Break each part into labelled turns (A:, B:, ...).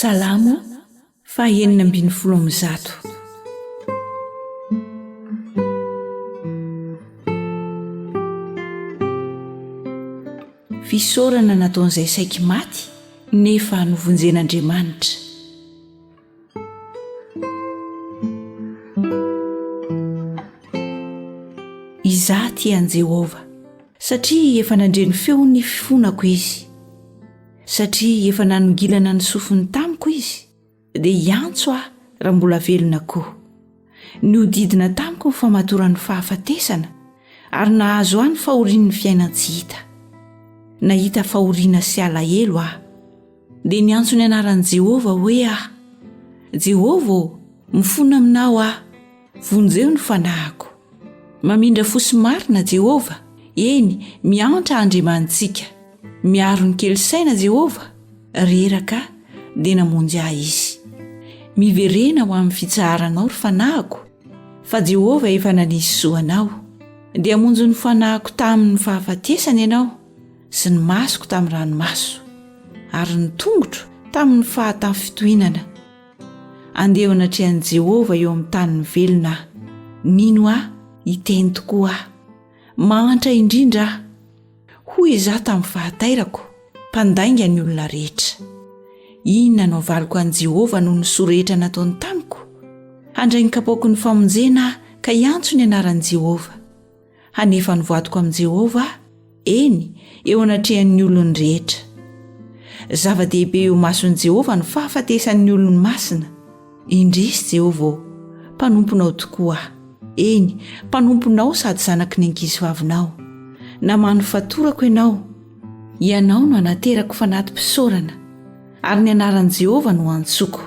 A: Salamo faha enina ambin'ny folo amby zato. Fisaorana nataon'izay saiky maty nefa novonjen'Andriamanitra. Izaho tia an'i Jehovah, satria efa nandre ny feon'ny fifonako izy. satria efa nanongilana ny sofiny tamiko izy dia hiantso aho raha mbola velona koa nihodidina tamiko ny famatoran'ny fahafatesana ary nahazo ahy ny fahorian'ny fiainan-tsy hita nahita fahoriana sy alahelo aho dia niantso ny anaran'i jehovah hoe aho jehovah ô mifona aminao aho vonjeo ny fanahiko Mamindra fo sy marina Jehovah, eny, miantra Andriamanitsika. Miaro ny kely saina Jehovah, reraka dia namonjy ahy Izy. Miverena ho amin'ny fitsaharanao ry fanahiko, fa Jehovah efa nanisy zo anao. Dia hamonjy ny fanahiko tamin'ny fahafatesana ianao, sy ny masoko tamin'ny ranomaso, ary ny tongotro tamin'ny fahatafinfitohinana. Andeha eo anatrehan'i Jehovah eo amin'ny tanin'ny velona aho. Mino aho, hiteny tokoa aho. Mahantra indrindra aho. Hoy izaho tamin'ny fahatairako, mpandainga ny olona rehetra. Inona no havaliko an'i Jehovah noho ny soa rehetra nataony tamiko? Handray ny kapoaky ny famonjena aho ka hiantso ny anaran'i Jehovah. hanefa ny vadiko amin'i Jehovah aho, eny, eo anatrehan'ny olony rehetra. Zava-dehibe eo imason'i Jehovah ny fahafatesan'ny olony masina. Indrisy, Jehovah ô, mpanomponao tokoa aho, eny, mpanomponao sady zanaky ny ankizivavinao. Namano fatorako ianao. Ianao no anaterako fanatim-pisaorana. Ary ny anaran'i Jehovah no antsoko.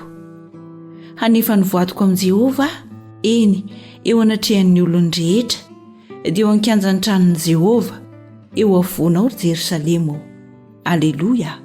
A: Hanefa ny voadiko amin'i Jehovah aho, eny, eo anatrehan'ny olony rehetra, dia eo an-kianjan'ny tranon'i Jehovah, eo afovoanao, ry Jerosalema ô. Aleloia!